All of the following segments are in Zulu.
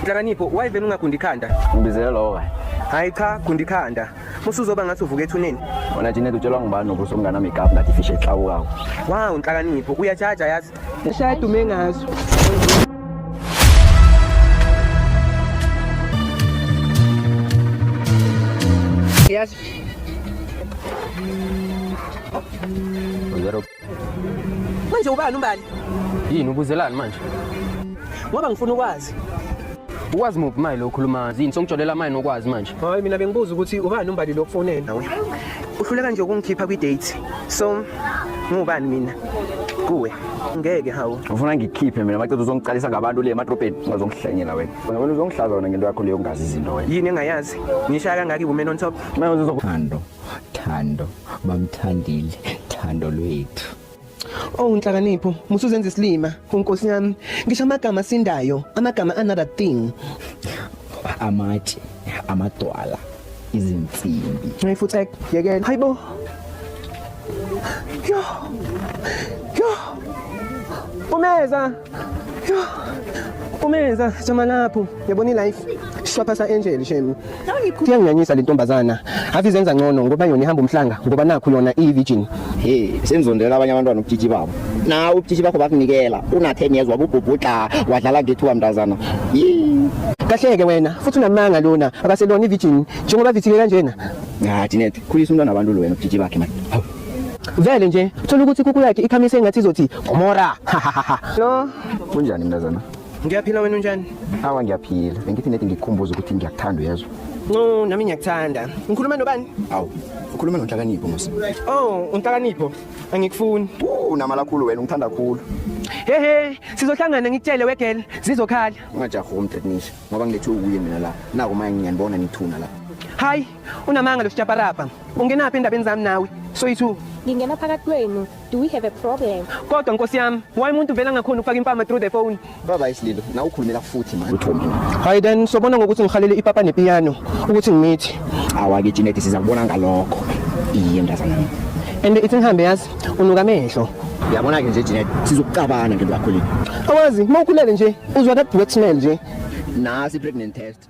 Nhlakanipho why vele ungagundi ikhanda? Ngibizela lowo kanye. Hayi cha gundi ikhanda. Musuzoba ngathi uvuka ethuneni. Wena Janet utshelwa ngubani nokuthi umngane wami igap ngathi fish exawukawo. Wow nhlakanipho uyajaja yazi. Eshaya dume ngazo. Yes. Zero Manje ubani umbali? Yini ubuzelani manje? Ngoba ngifuna ukwazi. Ukwazi muphi manje lo khuluma? Yini songitsholela manje nokwazi manje? Hayi mina bengibuza ukuthi ubani umbali lo kufonela nawe. Uhluleka nje ukungikhipha kwi date. So ngubani mina? Kuwe. Ngeke hawu. Ufuna ngikhiphe mina maqeda uzongiqalisa ngabantu le emadrobheni ungazongihlanyela wena. Wena uzongshlaza wena ngento yakho leyo ungazi izinto wena. Yini engayazi? Ngishaya kangaki women on top? Manje uzokuthando. Thando bamthandile thando lwethu Oh nhlakanipho musuzenza isilima unkosi yami ngisho amagama sindayo amagama another thing amatshe amadwala izinsimbi Hey futhi yekela hayibo Yo Yo Umeza Umenza jama lapho yabona ilife shwapha sa angel shame kuyangiyanyisa le ntombazana ave izenza ngcono ngoba yona ihamba umhlanga ngoba nakho yona iyi virgin hey senizondela abanye abantwana ubutshitshi babo na ubutshitshi bakho bakunikela una 10 years wabubhubhudla wadlala ngethuba mntazana Yee. kahleke wena futhi unamanga lona akaselona ivirgin njengoba vithike kanjena ya dinete khulisa umntwana abantu lo wena ubutshitshi bakhe manje Vele nje thola ukuthi kuku yakhe ikhamise engathi izothi Gomora. No. Kunjani mntazana? Ngiyaphila wena unjani? Awa ngiyaphila. Bengithi nedi ngikukhumbuza ukuthi ngiyakuthanda uyezwa. No, nami ngiyakuthanda. Ngikhuluma nobani? Awu, ukhuluma nonhlakanipho musa. Oh, unhlakanipho. Angikufuni. Unamala khulu wena ungithanda khulu. Hehe, sizohlangana ngikutshele wegel, zizokhala. Ungajahi umtetnisha ngoba ngilethe ukuye mina la. Naku manje ngiyanibona nithuna la. Hayi, Unamanga lo sjaparapa. Ungenaphi endabeni zami nawe? Soyithu. Ngingena phakathi kwenu. Do we have a problem? Kodwa nkosi yami, why umuntu vela ngakhona ukufaka impama through the phone? Baba isililo, na ukhulumela futhi manje. Uthombe. Hayi then sobona ngokuthi ngihalele ipapa nepiano ukuthi ngimithi. Awake Jeanette siza kubona ngalokho. Iye mntazana. And ithi ngihambe yazi unuka amehlo. Yabona ke nje Jeanette sizokucabana ngento yakho le. Awazi, mawukhulele nje uzwa that wet smell nje. Nasi pregnant test.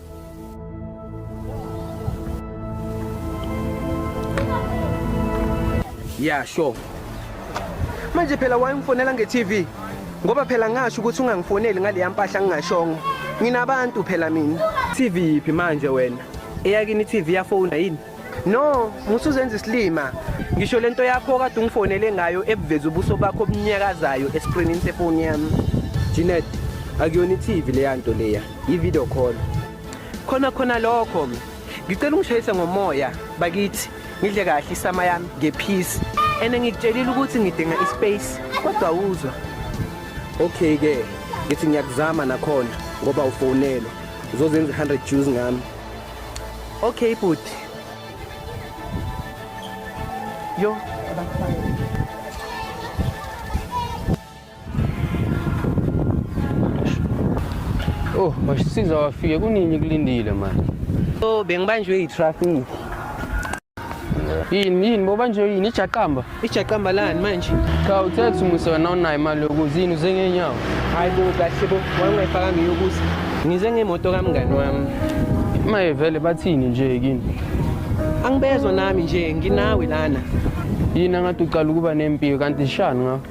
Yeah, sure. Manje phela wayemfonela nge-TV ngoba phela ngasho ukuthi ungangifoneli ngaleya mpahla ngingashongo. Nginabantu phela mina. TV yiphi manje wena? Eyakini i-TV yafona yini? No, musuzenza isilima. Ngisho lento yakho kade ungifonele ngayo ebuveza ubuso bakho obunyakazayo escreenini sefoni yami. Janet, akuyona iTV leya nto leya, i-video call. Khona khona lokho. Ngicela ungishayise ngomoya bakithi. Ngidle kahle isama yami ngephisi. Ene ngikutshelile ukuthi ngidinga ispace kodwa uzwa. Okay ke, ngithi ngiyakuzama nakhona ngoba ufonelwa. Uzozenza 100 Jews ngami. Okay bhuti. Yo, abafana. Oh, wasisiza wafike kunini kulindile manje. So bengibanjwe yitraffic. yini yini boba nje yini ijaqamba ijaqamba lani manje cha uthe kuthi musa wena unayo imali yokuza yini uze ngenyawo hayi bo kahle bo wangayifaka ngiyokuza ngize ngemoto kamngani wami maye vele bathini nje kini angibezwa nami nje nginawe lana yini angathi ucala ukuba nempilo kanti shani ngakho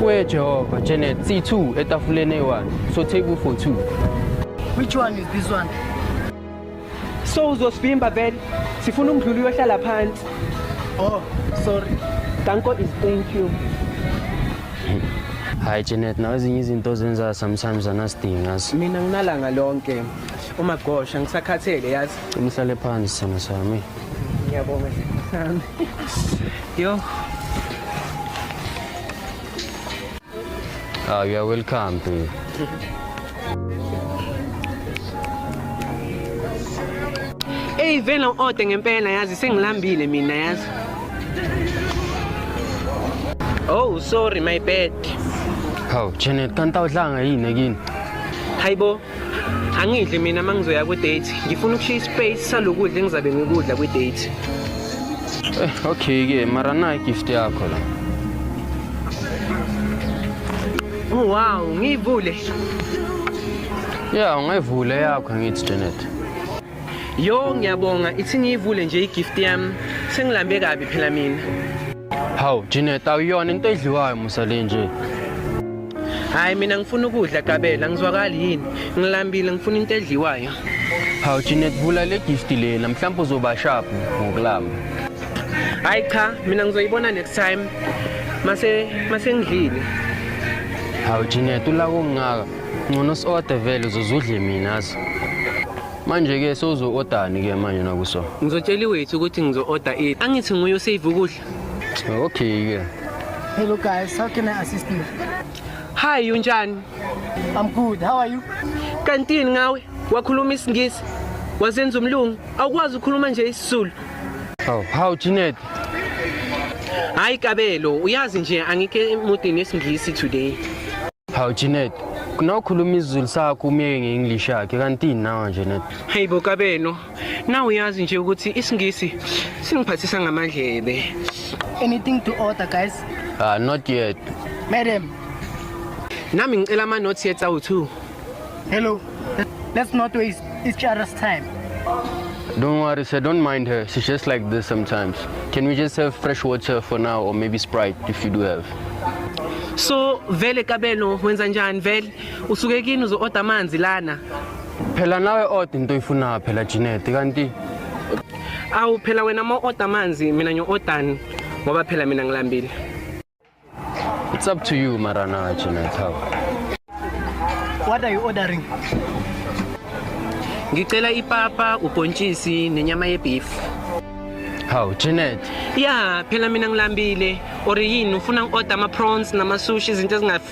Wee Jehova, Janet, C2 etafuleni eyi-1. So take u for 2. Which one is this one? So uzosivimba vele. Sifuna umdluli uyohlala phansi. Oh, sorry. Danko is thank you. Hayi Janet, nawe ezinye izinto ozenza sometimes anasidingi yazi. Mina nginalanga lonke. Uma gosha ngisakhathele yazi. Umhlale phansi sana sami. Ngiyabonga sami. Yo. Ah, you are welcome to. Hey vele ode ngempela yazi sengilambile mina yazi. Oh, sorry my bad. Hawu, Janet, kanti awudlanga yini ekini? Hayibo, angidli mina uma ngizoya kwi-date ngifuna ukushiya ispace salokudla engizabe ngikudla kwi-date eh, okay-ke mara nayi gift yakho la oh, wow ngiyivule ya ungayivule yakho angithi janet Yo ngiyabonga ithi ngiyivule nje igift yami sengilambe kabi phela mina. Hawu Janet awuyona into edliwayo musa le nje. Hayi mina ngifuna ukudla Gabela ngizwakali yini ngilambile ngifuna into edliwayo. Hawu Janet vula le gift lena mhlawumbe uzoba sharp ngokulamba. Hayi cha mina ngizoyibona next time mase mase ngidlile. Hawu Janet ulako ngaka Ngcono si-order vele uzozudle mina azi. Manje-ke sewuzo-odani-ke manje nakuso? Ngizotshela iwethu ukuthi ngizo-order it. Angithi nguye osave ukudla. Okay-ke. Hello guys, how can I assist you? Hi, unjani? I'm good. How are you? Kantini ngawe? Wakhuluma isingisi? Wazenza umlungu? Awukwazi ukukhuluma nje isizulu? How, how Janet? Hayi Kabelo, uyazi nje angike emudini esingisi today. Hawu Janet, kunawukhuluma isiZulu sakho umyeke nge-English yakhe kanti nawa nje net. Hey bo kabeno, nawe uyazi nje ukuthi isiNgisi singiphathisa ngamadlebe. Anything to order guys? Ah not yet. Madam, Nami ngicela ama notes ye tsawu 2. Hello. Let's not waste each other's time. Don't worry, sir. Don't mind her. She's just like this sometimes. Can we just have fresh water for now or maybe Sprite if you do have? So vele kabelo wenza njani vele usuke kini uzo order amanzi lana Phela nawe odd into oyifuna phela Janet kanti awu phela wena ma order amanzi mina ngiyo ordani ngoba phela mina ngilambile It's up to you mara na china thaw. What are you ordering? Ngicela ipapa, ubhontshisi nenyama yebeef. How, Janet? Yeah, phela mina ngilambile. Or yini ufuna ngi-order ama-prawns nama-sushi izinto ezingafi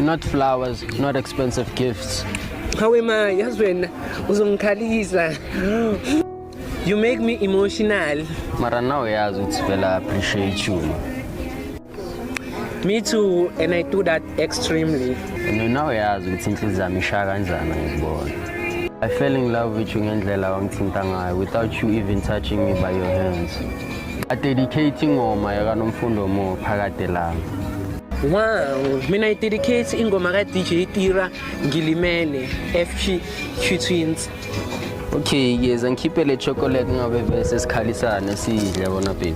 not flowers, not expensive gifts. Hawe ma, yazi wena uzongikhalisa. You make me emotional. Mara now uyazi ukuthi vele I appreciate you. Ma. Me too and I do that extremely. And now uyazi ukuthi inhliziyo yami ishaya kanjani ngikubona. I fell in love with you ngendlela wangithinta ngayo without you even touching me by your hands. adedicate ingoma yakanomfundo mo phakade lami Wow, mina i-dedicate ingoma ka-DJ Tira ngilimele FG Q Twins. Okay, ngiyeza ngikhiphe le chocolate ngabe bese sikhalisane sidle bona baby.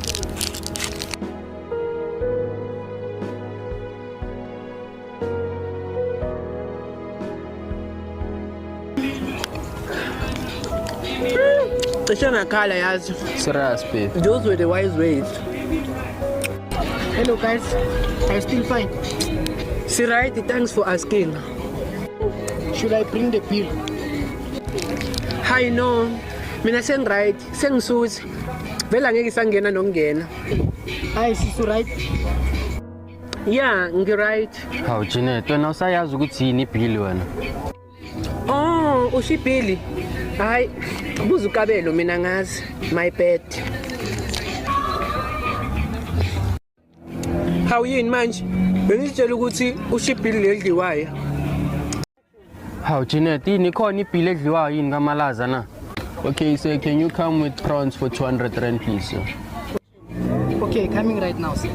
cishe ngakhala yazi serious babe those were the wise ways hello guys are you still fine si right thanks for asking should i bring the pill hi no mina sengiright sengisuthi vele angeke isangena nokungena hayi sisi right ya ngiright hawu janet wena usayazi ukuthi yini ibhili wena oh usho ibhili hhayi buza ukabelo mina ngazi my bed hawu yini manje bengizitshela ukuthi usho ibhili leli dliwayo Hawu Jeanette, yini khona ibhili edliwayo yini kamalaza na? Okay, sir, can you come with prawns for 200 rand please? sir? Okay, coming right now, sir.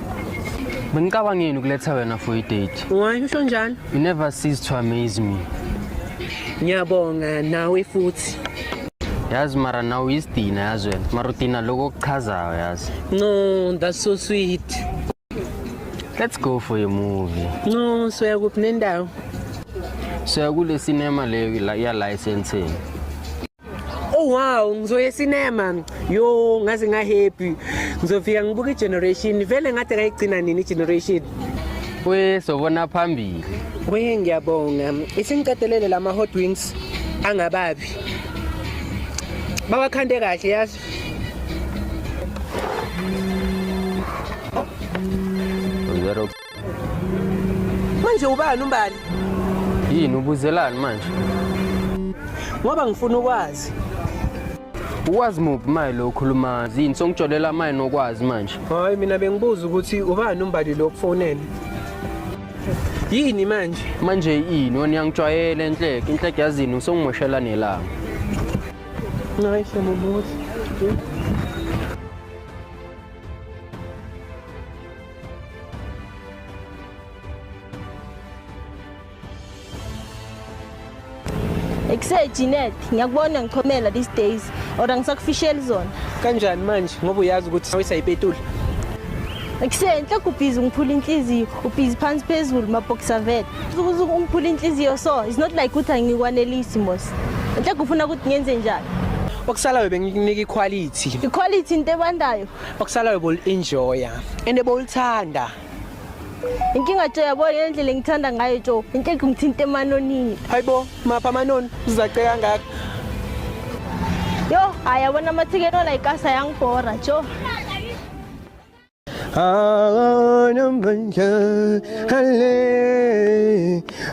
Bengicabangeni ukuletha wena for i-date. Why usho njalo? You never cease to amaze me. Ngiyabonga nawe futhi. Yazi mara nawe uyisidina yazi wena. Mara udina lokho okuchazayo yazi. No, that's so sweet. Let's go for a movie. No, soya kuphi nendawo? Soya kule cinema leyo la ya licensing. Oh wow, ngizoya cinema. Yo, ngaze nga happy. Ngizofika ngibuka igeneration. Vele ngathi kayigcina nini igeneration? We sobona phambili. We ngiyabonga. Isingiqedelele lama hot wings angababi. Bawakhande kahle yazi. Zero. manje ubani umbali Yini ubuzelani manje? ngoba ngifuna ukwazi Ukwazi muphi maye lo khuluma zini songijolela maye nokwazi manje. hayi mina bengibuza ukuthi ubani umbali lo kufonele yini manje Manje yini wena uyangijwayele enhleke inhleke yazini usongimoshela nelanga. Nice, I'm almost. Ekuse Jeanette, ngiyakubona ngichomela these days or angisakufisheli zona. Kanjani manje ngoba uyazi ukuthi sawisa ipetula? Ekuse enhle kubhizi ngiphula inhliziyo, ubhizi phansi phezulu mabhoxer vet. ungiphula inhliziyo so it's not like ukuthi angikwanelisi mos nhle kufuna ukuthi ngenze njani okusalayo bengikunika iquality iquality into ebandayo okusalayo bolienjoya and bolithanda inkinga jo yabo yendlela engithanda ngayo jo inkinga ngithinta emanonini hayibo mapha amanoni uzaceka kangaka yo ayabona amathikeni olayikasa yangibhora jo Ağanım ben kâhale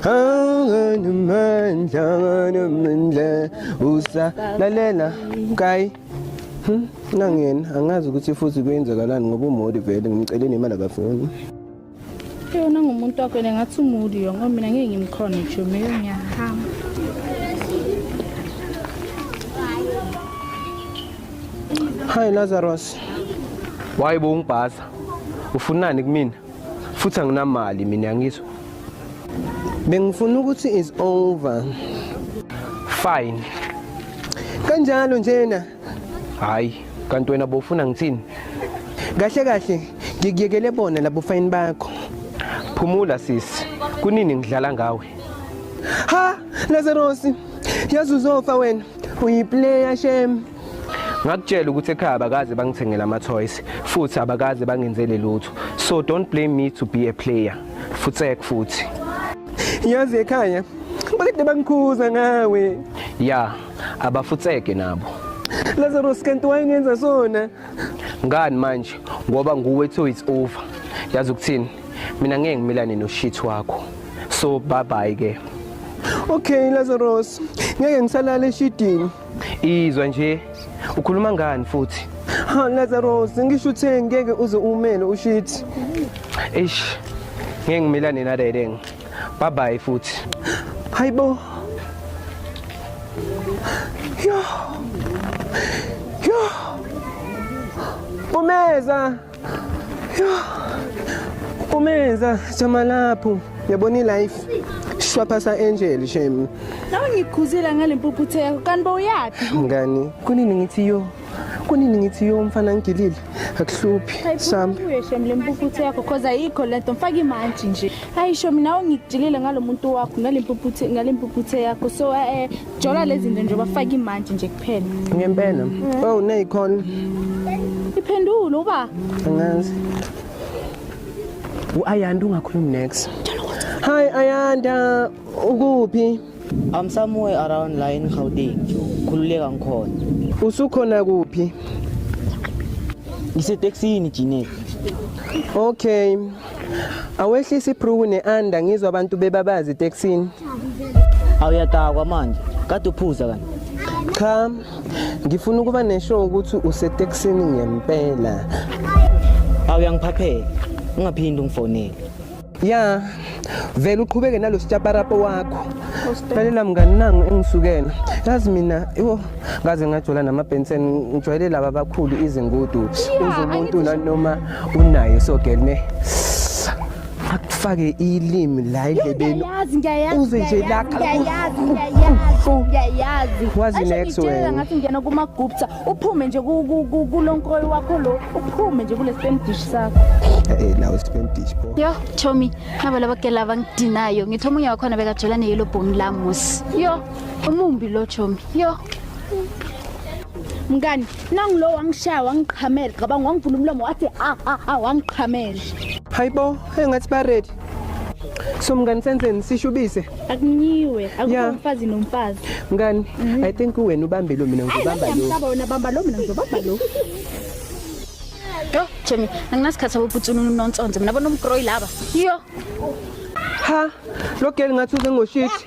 Ağanım ben kâhanım ben le Usa la le la Kay Nangin angazi ukuthi futhi kwenzakalani ngoba umodi vele ngimceleni imali akafuni yona ngumuntu wakho yena ngathi umuli yo ngoba mina ngeke ngimkhona ngisho meyo ngiyahamba Hi Lazarus. Why bo ungibhaza? Ufunani kumina? Futhi anginamali mina ngizwe. Bengifuna ukuthi is over. Fine. Kanjalo njena. hayi kanti wena bofuna ngithini kahle kahle ngikuyekele bona labo fayini bakho phumula sisi kunini ngidlala ngawe ha lazarosi yazi uzofa wena uyiplayer shem ngakutshela ukuthi ekhaya abakaze bangithengela ama-toys futhi abakaze bangenzele lutho so don't blame me to be a player futsek futhi yazi ekhaya bakade bangikhuza ngawe ya abafutseke nabo Lazarus kanti wayengenza sona ngani manje ngoba nguwe to it's over yazi ukuthini mina ngeke ngimilane noshit wakho so bye bye ke Okay Lazarus ngeke ngisalala eshidini izwa nje ukhuluma ngani futhi ha Lazarus ngisho uthe ngeke uze umele ushit eish ngeke ngimilane naleleng Bye bye futhi. Hayibo. Yo. Yo. Umeza. Yo. Umeza jama lapho. Yabona ilife. Shwaphasa angel shame. Nawe ngikhuzile ngale mpuphuthe yakho kanti bowuyaphi? Ngani? Kunini ngithi yo. kunini ngithi yo mfana ngigilile akuhluphi sambe uyeshem le mpuphuthe yakho cause ayikho le nto mfaka imantshi nje hayi sho mina ungigilile ngalo muntu wakho ngale mpuphuthe ngale mpuphuthe yakho so eh, eh jola lezi zinto nje bafaka imantshi nje kuphela ngempela mm. oh neyikhona iphendule uba angazi uayanda ungakhulumi next hi ayanda ukuphi I'm somewhere around la in Gauteng. Khululeka ngikhona. Usukhona kuphi? Ngiseteksini Jinet. Okay. Awehlisa ibruku neanda ngizwa abantu bebabazi eteksini. Awuyadakwa manje. Kade uphuza kanti. Cha. Ngifuna ukuba nesho ukuthi useteksini ngempela. Awuyangiphaphela. Ungaphindi ungifonele. ya vele uqhubeke nalo sitshaparapo wakho lalela mngani nangu engisukela yazi mina yo ngaze ngajola namabhensen ngijwayele laba abakhulu izingudu uze umuntu nanoma unayo so girl ne akufake ilimi la endlebeni Ngiyayazi, ngiyayazi, Uze nje ngiyayazi, lakha. ngiyayazi, ngiyayazi, ngiyayazi. Wazi Asho next ngitshela wena. ngathi ngiyena kuma-gupta uphume nje kulonkroyi wakho lo uphume nje kule spam dish sakho eh, eh nawo spam dish bo yo chomi nabo laba gela abangidinayo ngithe omunye wakhona bekajola ne yellow bone la musi yo umumbi lo chomi yo mngani nangulo wangishaya wangiqhamela cabanga wangivula umlomo wathi a ah, a ah, a ah, wangiqhamela hayibo engathi ba ready so mngani senhleni sishubise akunyiwe Yeah. akukho mfazi nomfazi mngani i think uwena ubambe lo mina ngizobamba lo ngiyamhlaba wena bamba lo mina ngizobamba lo yo jemi anginasikhathi saboputsuni unonsonze mina bona umgroyi laba yo ha lo girl ngathi uze ngoshithi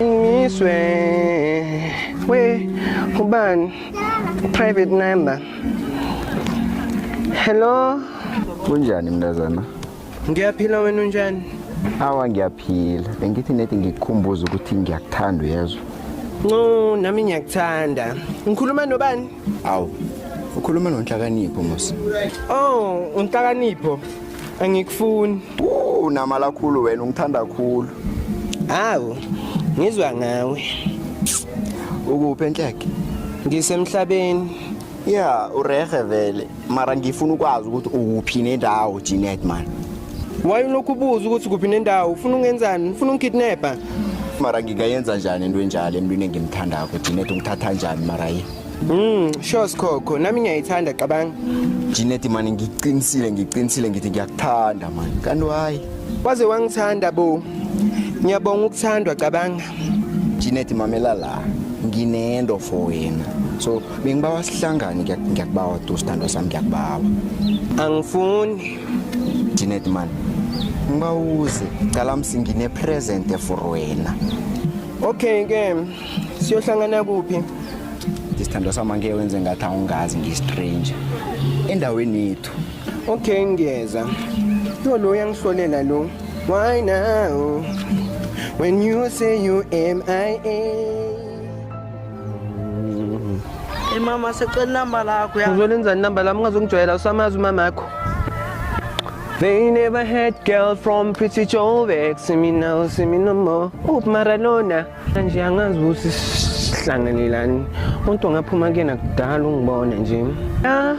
Ngiswe we ubani private number. Hello. Kunjani mntazana? Ngiyaphila wena unjani? Awa ngiyaphila. Bengithi nethi ngikukhumbuza ukuthi ngiyakuthanda uyezwa. No, nami ngiyakuthanda. Ngikhuluma nobani? Awu. Ukhuluma nonhlakanipho mos. Oh, unhlakanipho. Angikufuni. Unamala khulu wena ungithanda khulu. Hawu, ngizwa ngawe. Ukuphi enhleke? Ngisemhlabeni. Yeah, urehe vele. Mara ngifuna ukwazi ukuthi ukuphi nendawo Jeanette man. Why ulokhu ubuza ukuthi kuphi nendawo? Ufuna ungenzani? Ufuna ungikidnapper? Mara ngingayenza njani into enjalo emntwini engimthandako Jeanette ungithatha njani mara yini? Mm, sure Skhokho, nami ngiyayithanda cabanga. Jeanette mani ngiqinisile ngiqinisile ngithi ngiyakuthanda mani. Kanti why? Waze wangithanda bo. Ngiyabonga ukuthandwa cabanga. Jeanette mamela la. Nginento for wena. So bengibawa sihlangane ngiyakubawa tu sithandwa sami ngiyakubawa. Angifuni. Jeanette mani. Ngibawuze, cala msingine present for wena. Okay ke. siyohlangana kuphi isithandwa sami angeke wenze ngathi awungazi ngiyistranger endaweni yethu okay ngiyeza yo lo uyangihlolela lo why now when you say you mia Hey mama secela inamba lakho ya. Uzolenza inamba lami ungazongijwayela usamazi umama yakho. They never had girl from Pretty Joe See me now, see me no more. Up Maradona. nje angazi ukuthi sihlanganelani umuntu ongaphuma kuyena kudala ungibone nje ya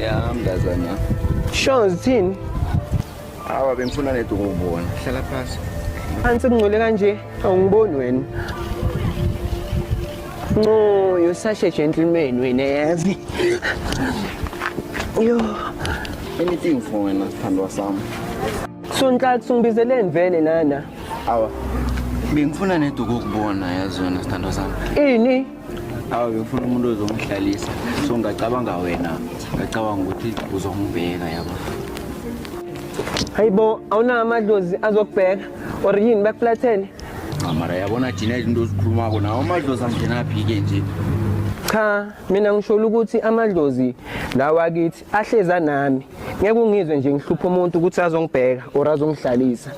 ya mntazana sure zithini awa bengifuna nedi ukubona hlala phasi phansi kungcole kanje awungiboni wena no you're such a gentleman wena yazi yo anything for wena sithandwa sami sontathu ngibizeleni vele nana awa bengifuna neduku ukubona yazi yona sithandwa sami ini awa bengifuna umuntu ozongihlalisa so ngacabanga wena ngacabanga ukuthi uzongibheka yabo hayibo awunawo amadlozi azokubheka or yini bakuflathele mara yabona thina izinto ozikhulumako nawo amadlozi angenaphi-ke nje cha mina ngisholo ukuthi amadlozi lawa kithi ahleza nami ngeke ungizwe nje ngihlupha umuntu ukuthi azongibheka or azongihlalisa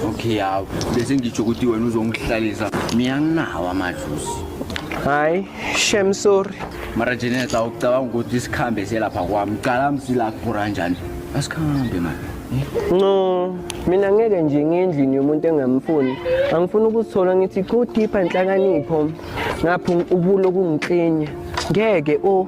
okay yawo bese ngitsho ukuthi wena uzongihlalisa mina nginawo amadluzi hayi shem sorry mara jeneta ucabanga ukuthi isikhambe selapha kwami cala msila kuphura njani asikhambe mani no mina ngeke nje ngendlini yomuntu engamfuni angifuni ukuzithola ngithi go deeper nhlakanipho ngapha ubulo kungiklinya ngeke o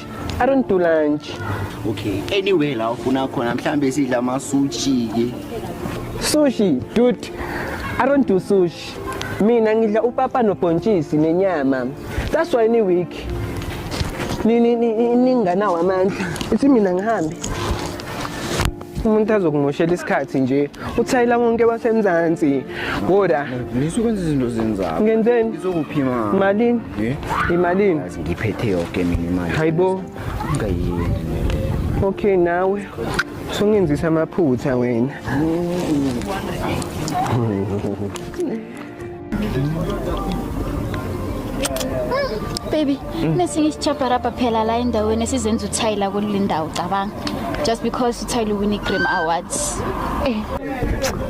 I don't do lunch. Okay. Anyway la ufuna khona mhlambe sidla ama sushi ke. Sushi, dude. I don't do sushi. Mina ngidla upapa nobhontshisi nenyama. That's why ni week. Ni ni ni ninganawo amandla. Ithi mina ngihambe. umuntu azokumushela isikhathi nje uthayela wonke wasemzansi ngoda ngisuke kwenza izinto zenzako ngenzeni ngizokuphima malini eh? imalini ngiphethe yonke mina imali hayibo ngayini okay nawe sungenzisa amaphutha wena baby mm. nesinye isichapha rapha phela la endaweni esizenza uthayila kule ndawo cabanga just because uthayile uwine i-grim awards eh.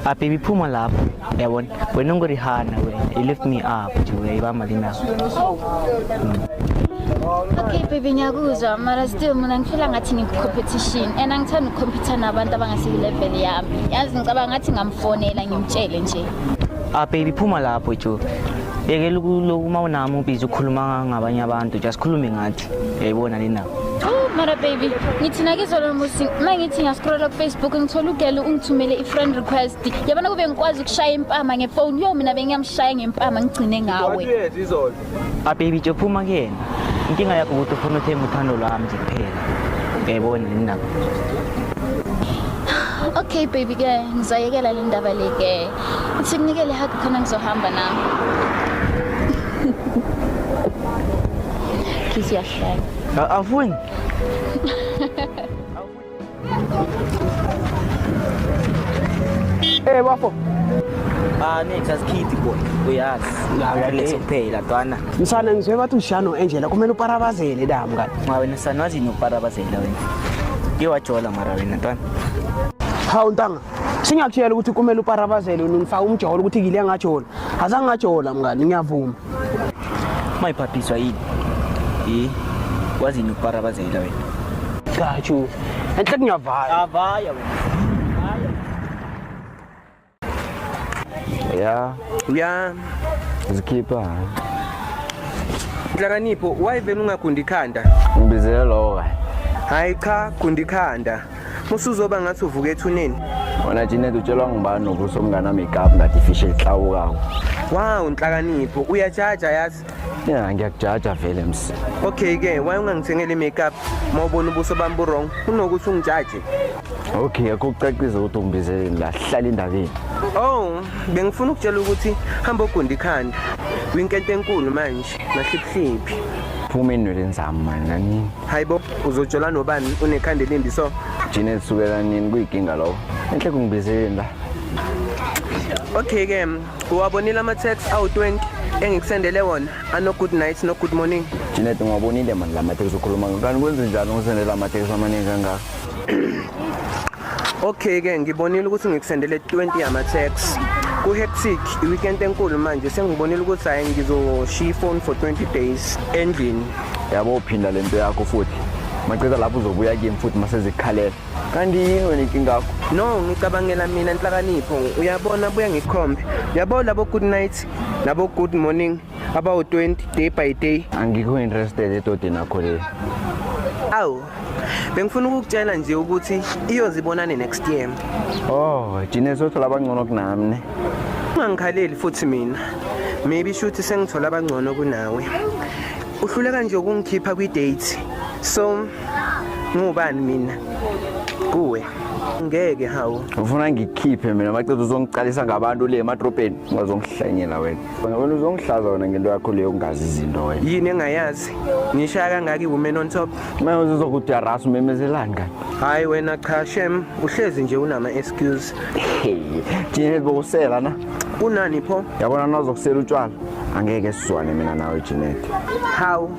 ababy ah, phuma lapho yabona wena ungorihana wena you lift me up uyayibamba linawo okay baby ngiyakuzwa mara still mina ngifela ngathi ngikucompetition and angithanda ukucompetha nabantu abangasiyilevel yami yazi ngicabanga ngathi ngamfonela ngimtshele nje Ah baby phuma lapho jo. Yekela ukulokhu uma unami ubiza ukhuluma ngabanye abantu, just khulume ngathi. Yayibona le ndaba. Oh, Mara baby, ngithi nakizolo musi uma ngithi ngiyaskrola kufacebook ngithola ugelo ungithumele i-friend request yabona kube ngikwazi ukushaya impama ngefoni yo mina bengiyamshaya ngempama ngigcine ngawe A baby Joe phuma kuyena. Inkinga yakho ukuthi ufuna uthenge uthando lwami nje kuphela. Uyayibona yini nako? Okay baby ke ngizayekela le ndaba le ke. Uthi kunikele hug khona ngizohamba nami. Kiss yahlala. Awufuni? Eh bafo. Ah nithi asikhidi boy. Uyazi. Uyazi kuphela ntwana. Msana ngizwe bathi ushano enjela kumele uparabazele la mngani. Ma wena sana wazi noparabazela wena. Ke wajola mara wena ntwana. Hawu ntanga. Singakutshela ukuthi kumele uparabazele unifaka umjolo ukuthi ngile ngajola. Azangajola mngani ngiyavuma. Mayibhabhiswa yini? Yi wazini ukuparabazela wena? Cha chu. Enhle kunyavala. Avaya wena. Ya, Uya zikhipha. Nhlakanipho, why vele ungagundi ikhanda? Ngibizele lowo kahle. Hayi cha, gundi ikhanda. musuzoba ngathi uvuka ethuneni wena Janet utshelwa ngubani nobuso mngana makeup ngathi fish elihlawukawo wow nhlakanipho uyajaja yazi ya ngiyakujaja vele msi okay ke why ungangithengeli makeup mawubona ubuso bami bu wrong unokuthi ungijaje okay akho kucacisa ukuthi ungibizeleni la hlala indabeni oh bengifuna ukutshela ukuthi hamba ogunda ikhanda kwinkente enkulu manje Mahliphliphi. Phuma enweleni zami mani nani. Hayibo uzojola nobani unekhanda elimbi so. Jina elisukela nini kuyikinga lowo. Enhle kungibizeleni la. Okay ke uwabonile ama tax awu20 engikusendele wona ano good night no good morning. Jina ngwabonile mani la matex ukhuluma ngani kwenze njani ngisendela ama tax amaningi kangaka. Okay ke ngibonile ukuthi ngikusendele 20 yama tax ku hectic i weekend enkulu manje sengibonile ukuthi hayi ngizoshiya phone for 20 days endlini yabo uphinda lento yakho futhi macela lapho uzobuya kimi futhi masezikhalela kanti yini wena inkinga yakho no ngicabangela mina inhlakanipho uyabona buya ngikhombe yabo labo good night labo good morning abawu-20 day by day angikho interested edodeni akho le awu bengifuna ukukutshela nje ukuthi iyozibonane next year oh jine sothola abangcono kunami ne ungangikhaleli futhi mina maybe shuthi sengithola abangcono kunawe uhluleka nje ukungikhipha kwi-date so ngubani mina kuwe ngeke hawu ufuna ngikhiphe mina macethu uzongiqalisa ngabantu le emadrobheni ungazongihlanyela wena Wena wena uzongihlaza wena ngento yakho leyo ungazi izinto wena. yini engayazi ngishaya kangaka iwoman on top Manje uzokudarasa umemezelani kanti? hhayi wena cha shem uhlezi nje unama-excuse Hey, Jinel bokusela na? kunani pho Yabona nazokusela utshwala. Angeke sizwane mina nawe Jinel. hawu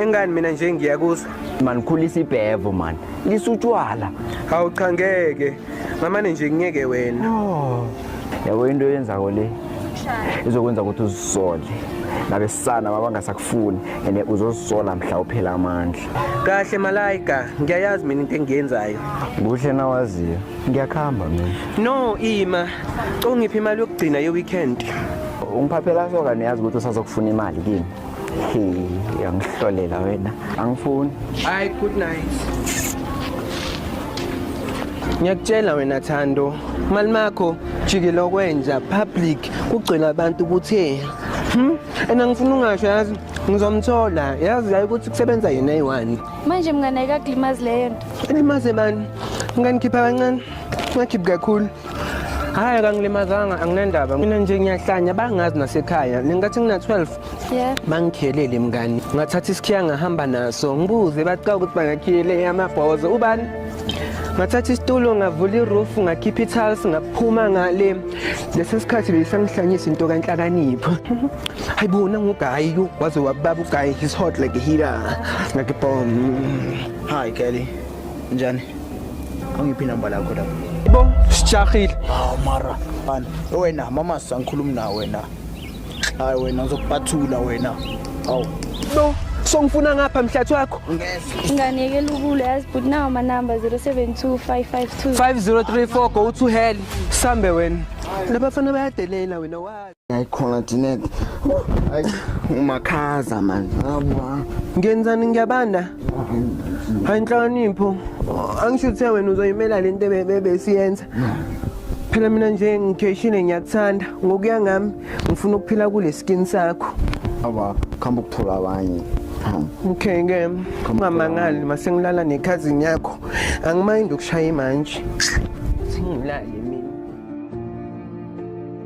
engani mina nje ngiyakuzwa Man khulisa ibhevo man. Lisa utshwala. hawu cha ngeke ngamane nje ngiyeke wena oh. yabo into yenzako le izokwenza ukuthi uzisole nabesana mabangasakufuni and uzozisola mhla uphela amandla kahle malayika ngiyayazi mina into engiyenzayo kuhle nawaziyo ngiyakuhamba mina no ima ungiphi imali yokugcina ye-weekend ungiphaphela soka niyazi ukuthi usazokufuna imali kimi uyangihlolela wena angifuni hayi good night ngiyakutshela wena thando mali makho jikile okwenja public kugcwele abantu ukuthi hmm? and angifuni ungasho yazi ngizomthola yazi yayi ukuthi kusebenza yena eyi-one manje mngane ayikakulimazi leyo nto ilimaze bani nganikhipha kancane ngakhiphi kakhulu hayi kangilimazanga anginendaba mina nje ngiyahlanya bangazi nasekhaya nengathi ngina-12 yeah. bangikhelele mngani ngathatha isikhiya ngahamba naso ngibuze baqa ukuthi bangakhiyele amabhozo ubani ngathatha isitulo ngavula iroof ngakhipha ithals ngaphuma ngale lesi sikhathi beyisangihlanyisa into kanhlakanipho hayi bona ngugayi waze wababa ugayi his hot like a heater ngakibom hayi kelly Njani? Angiphi inamba lakho lapho. Bo, sijahile. Hawu mara, bani. Wena mama sangikhulumi na wena. Hayi wena ngizokupathula wena. Hawu. Bo, songifuna ngapha mhlathi wakho. Ngeke. Nganeke lukule yazi but nawo ma number 072552 5034 go to hell. Sambe wena. Labafana bayadelela wena wazi. ayikhona Jeanette hayi umakhaza manje ngabwa ngenzani ngiyabanda hayi inhlakanipho angisho uthe wena uzoyimela lento besiyenza phela mina nje ngigeshile ngiyakuthanda ngokuya ngami ngifuna ukuphila kule skin sakho awa khamba ukuthola abanye okay ke ungamangali masengilala nekhazini yakho angimayindi ukushaya imanje singilale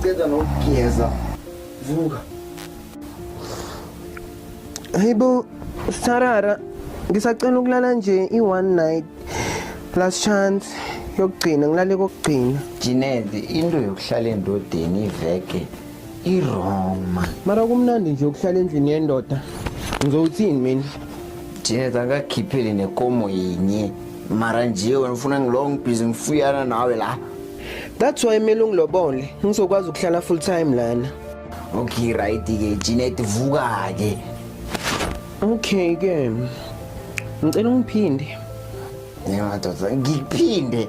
ngiceda nokugeza vuka hayibo sarara ngisacela ukulala nje i-one night last chance yokugcina ngilale kokugcina jinede into yokuhlala endodeni iveke i-wrong man mara kumnandi nje ukuhlala endlini yendoda ngizowuthini mina jeza ngakhiphele nekomo yinye mara nje wena ufuna ngilowo ngibhizi ngifuyana nawe la that's why kumele ungilobole ngizokwazi ukuhlala full time lana okay right-ke jinet vuka-ke okay ke ngicela ungiphinde nemadoda ngiphinde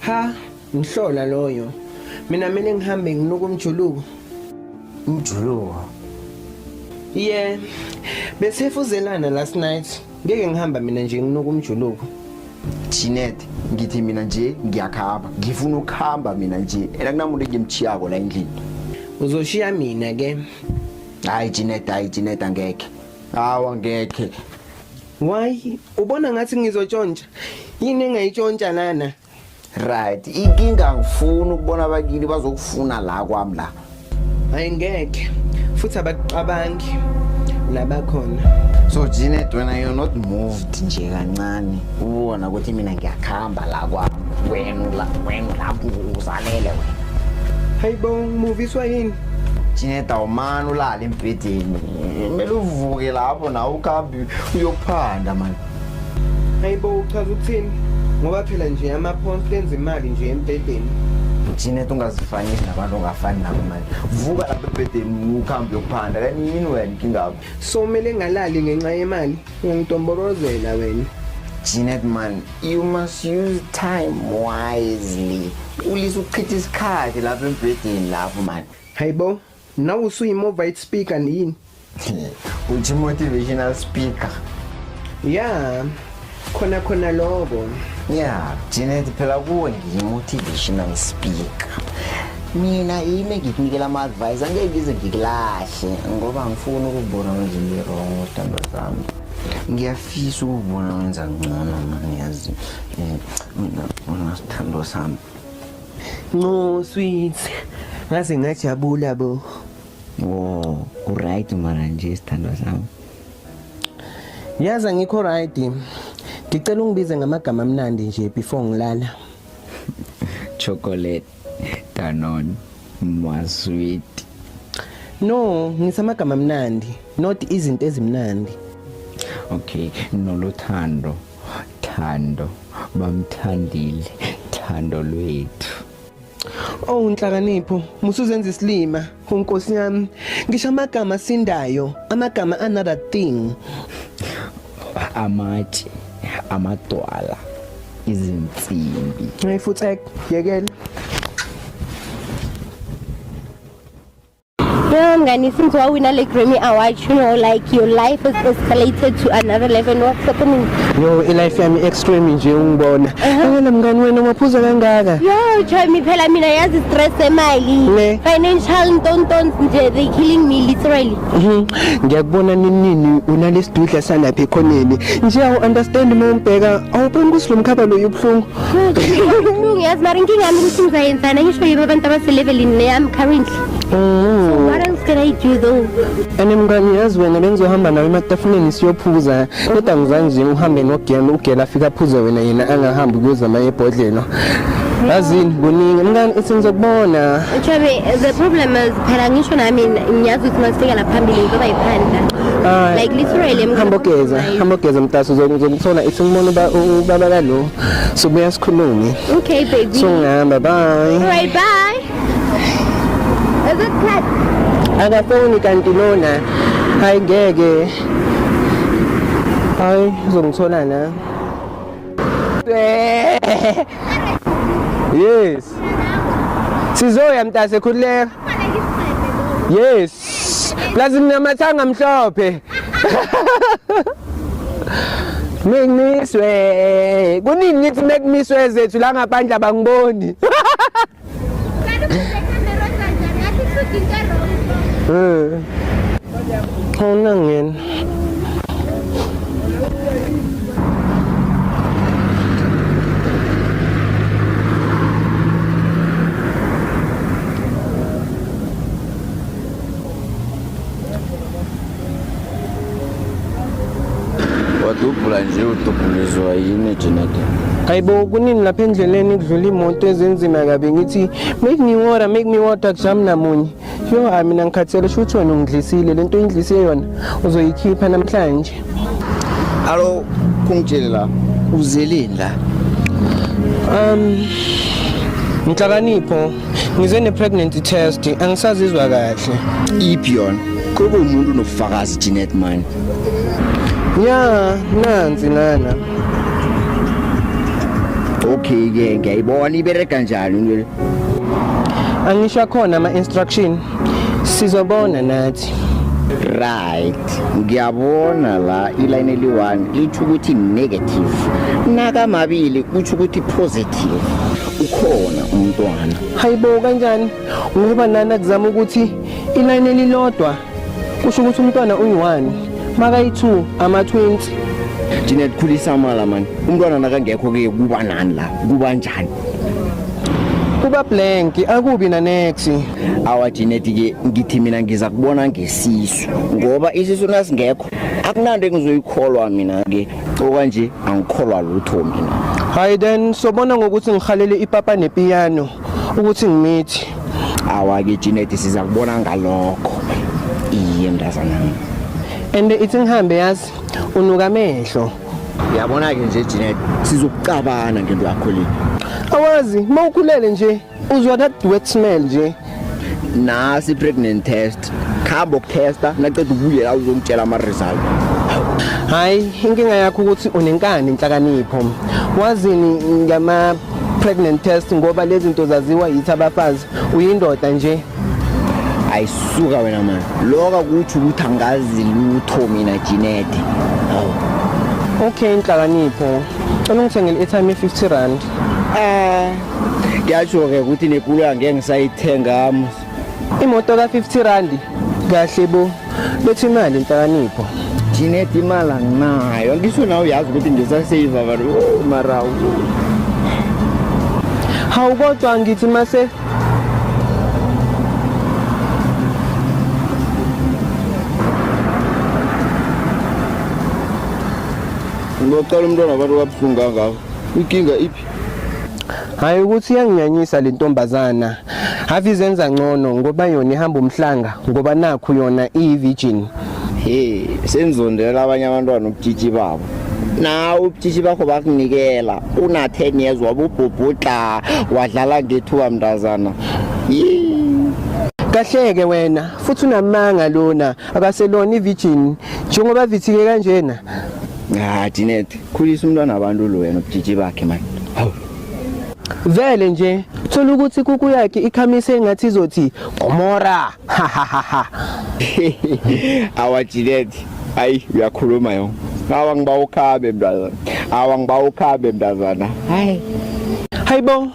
Ha, ngihlola loyo. Mina mina ngihambe nginuka umjuluko. Umjuluko. Yeah. Besefuzelana last night. Ngeke ngihamba mina nje nginuka umjuluko. Chinet ngithi mina nje ngiyakhamba ngifuna ukuhamba mina nje ena kunamuntu engimchiyako la endlini uzoshiya mina ke hayi Chinet hayi Chinet angeke hawa ngeke why Ubona ngathi ngizotshontsha. Yini engayitshontsha lana? Right. Inkinga ngifuna ukubona abakini bazokufuna la kwami la. Hayi ngeke. Futhi abakucabangi labakhona. So Janet when I am not moved nje kancane ubona ukuthi mina ngiyakhamba la kwami. Wena la wena lapho uzalele wena. Hayibo ngimuviswa yini? Janet awumani ulala embhedeni. kumele uvuke lapho nawe ukabi uyophanda mani hayi bo uchaza ukuthini ngoba phela nje ama-pounds enza imali nje embhedeni thina tungazifanisi nabantu ongafani nabo manje vuka lapha ebhedeni ukuhambe uyokuphanda kanti yini wena inkingabo so kumele ngalali ngenxa yemali ungangidonborozela wena Jeanette man you must use time wisely ulise ukuchitha isikhathi lapha embhedeni lapho mani hayibo Nawe usuyimovaid speaker yini? Uthi motivational speaker. Yeah. Khona khona lokho. Yeah, Janet phela kuwe ngiyimotivational speaker. Mina yimi ngikunikela ama advice angeke ngize ngikulahle ngoba ngifuna ukubona nje ngirong utando zami. ngiyafisa ukubona wenza ngcono mani yazi um mina unasithando sami Nqo sweet. Ngaze ngajabula bo. Oh, uright mara nje sithandwa sami. Yazi ngikho right. Ngicela ungibize ngamagama amnandi nje before ngilala. Chocolate, Danone, Mwa sweet. No, ngisamagama amnandi, not izinto ezimnandi. Okay, nolothando. Thando bamthandile thando lwethu Oh nhlakanipho musuzenza isilima unkosi yami ngisho amagama sindayo amagama another thing amatshe amadwala izinsimbi Hey futhi yekela Yo ngani since wawina le Grammy Award you know like your life has escalated to another level and what's happening? Yo i-life yami extreme nje ungibona. Uh-huh. Ngeke mngani wena umaphuza kangaka. Yo Joymi phela mina yazi stress emali. Financial ntontons nje they killing me literally. Mhm. Ngiyakubona ninini unalesidudla salapha ekhoneni. Nje awu understand uma umbheka awuboni ukuthi lo mkhaba lo ubuhlungu. Ubuhlungu yazi mara inkinga yami ukuthi ngizayenzana ngisho yibo abantu abaselevelini leyami currently. Mm. What else can I do though? And mngani yazi wena bengizohamba nawe ematafuleni siyophuza kodwa ngizange nje uhambe nogela ugela afika aphuze wena yena angahambi kuyozama ebhodlelo yazini kuningi mngani ithi ngizokubona Chabe, the problem is phela ngisho nami ngiyazi ukuthi masifika la phambili ngizoba yiphandla. Ah, Like literally I'm hamba ogeza hamba ogeza mtaso uzokuthola ithi ngibona uba- u- ubaba kalo sobuya sikhulume Okay baby. so ngihamba bye Alright, bye. akafoni kanti lona hayi ngeke hayi uzongithola na yes sizoya mntase khululeka yes plus nginamathanga mhlophe Mekmiswe. Kuningi ngithi mekmiswe zethu la ngaphandle abangiboni. Eh. Hauna ngena. wadubhula nje udubhulizwa yini jenade hayibo kuningi lapha endleleni kudlula imoto ezenzima kabi ngithi make me water make me water kujami namunye yo hayi mina ngikhathele sho ukuthi wena ungidlisile le nto oyindlise yona uzoyikhipha namhlanje alo kungitshele la uzeleni la um nhlakanipho ngize ne-pregnancy test angisazizwa kahle iphi yona kuba umuntu unobufakazi jeanette mani ya nansi lana okay ke ngiyayibona ibereka njani into le angisho akhona ama-instruction sizobona nathi right ngiyabona la iline eli-one litho ukuthi negative nakamabili kutho ukuthi positive ukhona umntwana hayibo kanjani ngoba nani akuzama ukuthi iline elilodwa kusho ukuthi umntwana uyi-one makayi-two ama-twenty Janet khulisa amala mani umntwana nakangekho ke kuba nani la kuba njani kuba blank akubi na next awa Janet ke ngithi mina ngiza kubona ngesisu ngoba isisu nasingekho akunanto engizoyikholwa mina ke okwanje angikholwa lutho mina hayi then sobona ngokuthi ngihalele ipapa nepiyano ukuthi ngimithi awake Janet siza kubona ngalokho iye mntazana and ithi ngihambe yazi unuka amehlo yabona ke nje Janet sizokucabana ngento yakho le awazi mawukhulele nje uzwa that wet smell nje nasi pregnant test khamba ukutesta naqeda ubuye la uzongitshela ama result hayi inkinga yakho ukuthi unenkani inhlakanipho wazini ngama pregnant test ngoba lezi zinto zaziwa yithi abafazi uyindoda nje ayisuka wena mani loka kuthi ukuthi angazi lutho mina jinede okay inhlakanipho cela ungithengele i-time ye-50 rand Eh ngiyasho ke ukuthi nekulu angeke ngisayithenga imoto ka 50 rand kahle bo bethi imali inhlakanipho thina imali anginayo ngisho nawe uyazi ukuthi ngisasave abantu oh, mara hawu kodwa ngithi mase ngocela umntwana abantu kabuhlungu kangako Inkinga iphi? Hayi ukuthi iyanginyanyisa le ntombazana. Have izenza ngcono ngoba yona ihamba umhlanga ngoba nakhu yona iyivirgin. Hey, senzondela abanye abantwana ubutshitshi babo. nawe ubutshitshi bakho bakunikela una 10 years wabubhubhudla wadlala ngethuba mntazana Yee. Kahleke wena futhi unamanga lona akaselona ivirgin njengoba vithike kanjena Ah Janet, khulisa umntwana wabantu lo wena ubujiji bakhe manje. Hawu. Vele nje thola ukuthi kuku yakhe ikhamise engathi izothi Gomora. Ha ha ha ha. Awa Janet, ayi uyakhuluma yo. Awa ngiba ukhabe mntazana. Awa ngiba ukhabe mntazana. Hayi. Hayibo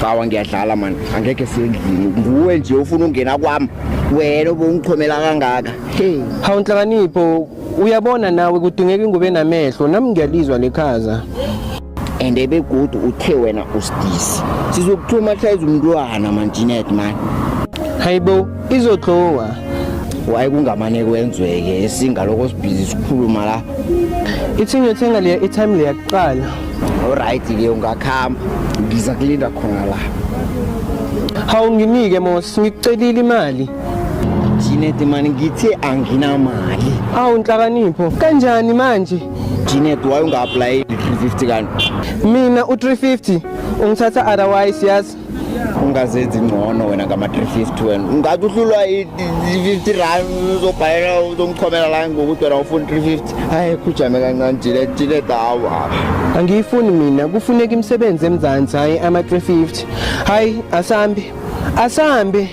Cawa ngiyadlala man, angeke sendlini. Nguwe nje ufuna ungena kwami. Wena ubungichomela kangaka. Hey, Hawu nhlakanipho uyabona nawe kudingeka ingubo enamehlo nami ngiyalizwa lekhaza. and ebegudu uthe wena usidisi. Sizokuthuma hlayiza umntwana man Jeanette man. Hayibo izodlowa. Waye kungamane kwenzweke esinga lokho sibhizi sikhuluma la. Ithingo ethenga leya i-time leya kuqala. Alright ke ungakhamba ngiza kulinda khona la. Hawu nginike Mos ngikucelile imali. Janet mani ngithe anginamali. Awu nhlakanipho kanjani manje? Janet why unga apply 350 kanti? Mina u 350 ungithatha otherwise yazi ungazenzi ngcono wena ngama-350 wena ungathi uhlulwa i-50 rand uzobhalela uzomchomela la ngokuthi wena ufuna 350 hayi khujame kancane jile jile dawa angiyifuni mina kufuneka imisebenzi emzansi hhayi ama-350 hhayi asambi asambi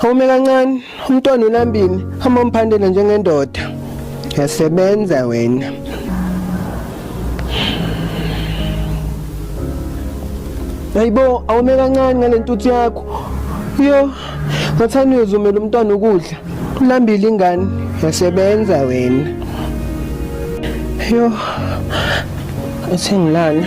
Home kancane umntwana ulambini hamba umphandela njengendoda yasebenza wena Hayibo awume kancane ngalentuthu yakho yo ngathani uyozumela umntwana ukudla ulambile ingane yasebenza wena yo athi ngilana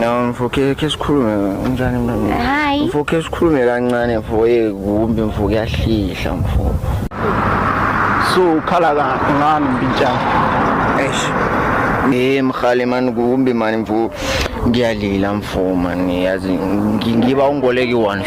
No mfokhe ke sikhulume unjani mntwana? Hayi. Mfokhe sikhulume kancane mfo ye kumbi mfo kuyahlihla mfo. So ukhala kahle ngani mpintshana? Eish. Eh mkhali man kumbi man mfo ngiyalila mfo man yazi ngi- ngiba ungoleki one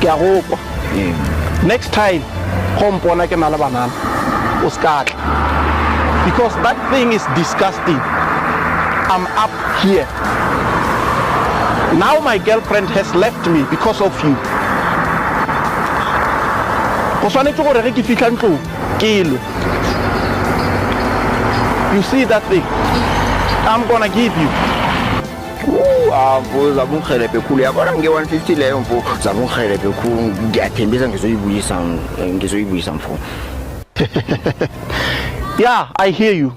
ke a go kwa next time go mpona ke na le banana o se ka tla because that thing is disgusting i'm up here now my girlfriend has left me because of you go tshwanetse gore ge ke fitlha ntlong ke lwe you see that thing i'm gonna give you mfo zakungihelebhe khulu yabona nge-150 leyo mfo zakungihelebhe khulu ngiyathembisa ngizoyibuyisa ngizoyibuyisa mfo yeah i hear you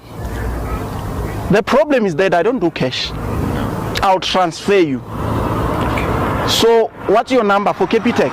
the problem is that i don't do cash i'll transfer you so what's your number for capitec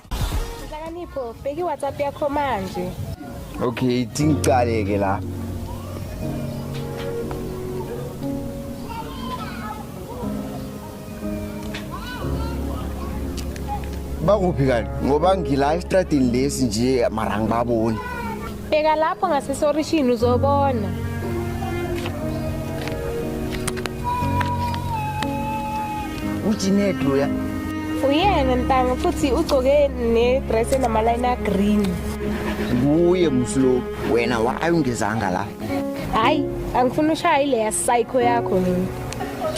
Nhlakanipho, bheka iWhatsApp yakho manje. Okay, tingicale ke la. Bakuphi kanti? Ngoba ngila estradini lesi nje mara ngibaboni. Bheka lapho ngasesorishini uzobona. Ujined loya. Uyena ntanga futhi ugcoke nedress enamaline agreen. Kuye mslo wena why ungezanga la? Hayi, angifuni ushaye leya psycho yakho mina.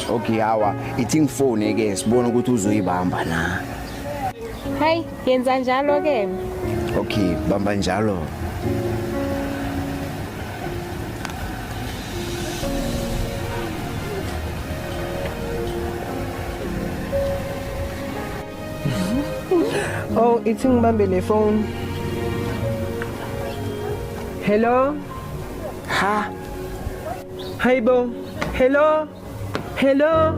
Okay hawa, ithi ngifone ke sibone ukuthi uzoyibamba na. Hayi, Yenza njalo ke. Okay, bamba njalo. Oh, ithi ngibambe le phone. Hello? Ha? Hayibo. Hello? Hello.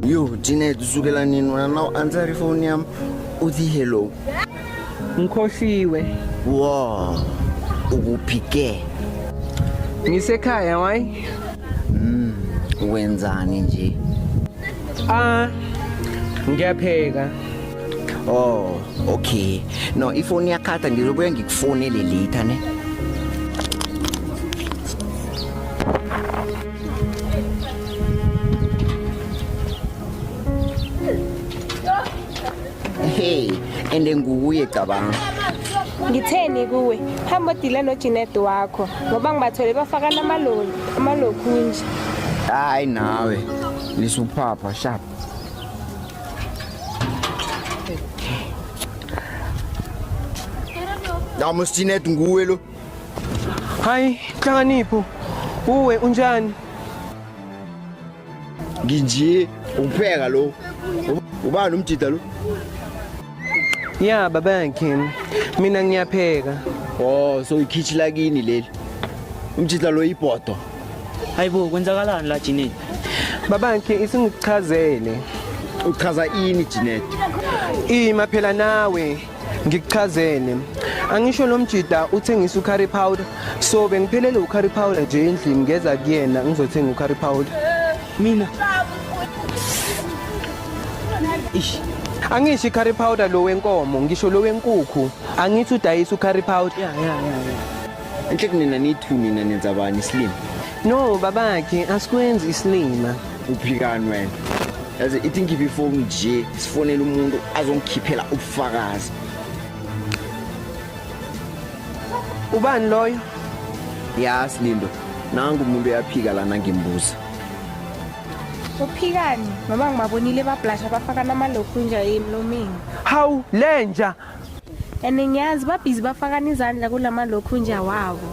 Yo, Janet, usukela nini wena na u answer ifoni yami uthi hello. Ngikhohliwe. Wow. Ukuphi ke? Ngisekhaya why? Mm, wenzani nje? Ah, ngiyapheka. Oh, okay. No, ifoni yakhatha ngizobuya ngikufonele later ne. hey and nguye cabanga ngitheni kuwe hamba odile nojinet wakho ngoba ngibathole bafaka namaloli amalokhunje hayi nawe lisuphapha sharp Namusjinet nguwe lo Hayi, Nhlakanipho, uwe unjani? Nginje ukupheka lo. Ubani umjida lo? Ya baba yakhe. Mina ngiyapheka. Oh, so ikhichi lakini leli. Umjida lo ibhodo. Hayibo kwenzakalani la Jineti? Baba yakhe isingichazele. Uchaza ini Jineti? Ima phela nawe. ngikuchazele angisho lo mjida uthengisa ucurry powder so bengiphelele ucurry powder nje endlini ngeza kuyena ngizothenga ucurry powder mina ish angisho i-curry powder lo wenkomo ngisho lo wenkukhu angithi udayisa u-curry powder ya ya ya enhle kunina nithu nina nenza bani isilima no babakhe asikwenzi isilima kuphikanwe yazi ithi ngikhiphe ifoni nje sifonele umuntu azongikhiphela ubufakazi ubani loyo ya silindo nangu umuntu uyaphika lana ngimbuza uphikani mama ngibabonile bablasha bafaka namalokhu nje emlomeni hawu lenja and ngiyazi babhizi bafakana izandla kula malokhunja wabo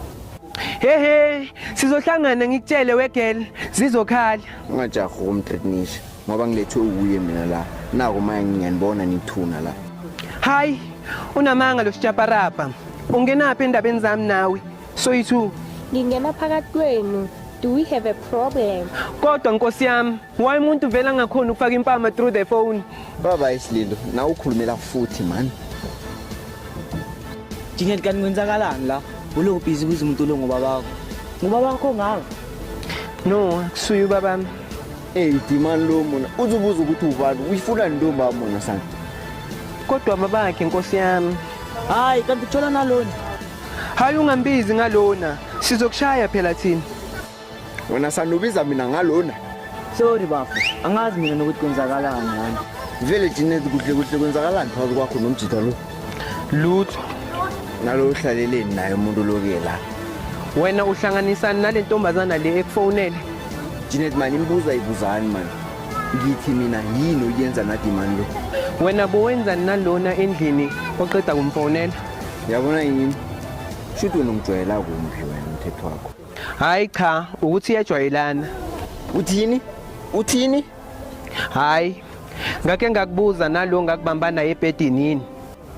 hehe sizohlangana ngikutshele wegel zizokhala ungajaha ukumtritnisha ngoba ngilethwe uwuye mina la nako maya ngiyanibona nithuna la hayi unamanga lo sijaparapa ungenaphi endabeni zami nawe soyi-two ngingena phakathi kwenu do we have a problem kodwa nkosi yami Why umuntu vela ngakhona ukufaka impama through the phone? Baba isililo, na ukhulumela futhi man. Jinget kan kwenzakalani la? Ulo busy kuze umuntu lo ngoba bakho. Ngoba bakho ngaka. No, kusuyu babami. Hey, dimani lo mona. Uzobuza ukuthi ubani, uyifuna ntombi amona sana. Kodwa babakhe inkosi yami. Hayi, kanti uthola nalona. Hayi ungambizi ngalona. Sizokushaya phela thina. wena sanubiza mina ngalona sorry bafo angazi mina nokuthi kwenzakalani ngani vele jinezi kuhle kuhle kwenzakalani phakathi kwakho nomjita lo lutho nalo uhlaleleni naye umuntu loke la wena uhlanganisani nale ntombazana le ekufonele jinezi mani imbuza ibuzani mani ngithi mina yini oyenza nadimani lo wena bowenzani nalona endlini oqeda kumfonela yabona yini shuthi wena ungijwayela kumbi wena umthetho wakho Hayi cha ukuthi iyajwayelana. Uthini? Uthini? Hayi. Ngake ngakubuza nalo ngakubamba naye ebhedini yini?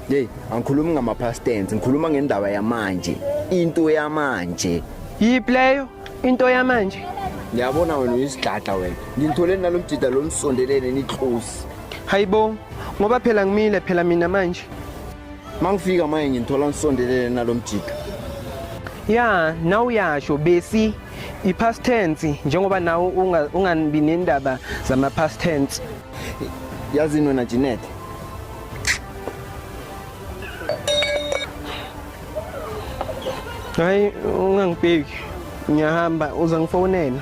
Hey, angikhulumi ngama past tense, ngikhuluma ngendaba yamanje. Into yamanje. Yiphi leyo? Into yamanje. Ngiyabona wena uyisigada wena. Ngithole nalomjida lomsondelene nitlosi. Hayibo, ngoba phela ngimile phela mina manje. mangifika manje nginthola ngisondelele nalomjika ya nawe uyasho besi i-past tense njengoba nawe ungabi nendaba zama-past tense yazini wena Jeanette hayi ungangibheki ngiyahamba uza ngifonela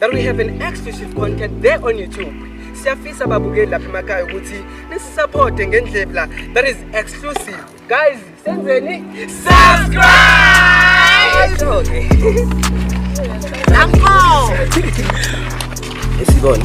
that we have an exclusive content there on youtube siyafisa babukeli lapha emakhaya ukuthi nisisaphote ngendlebu la that is exclusive guys senzeni subscribe Uncle. Isibone.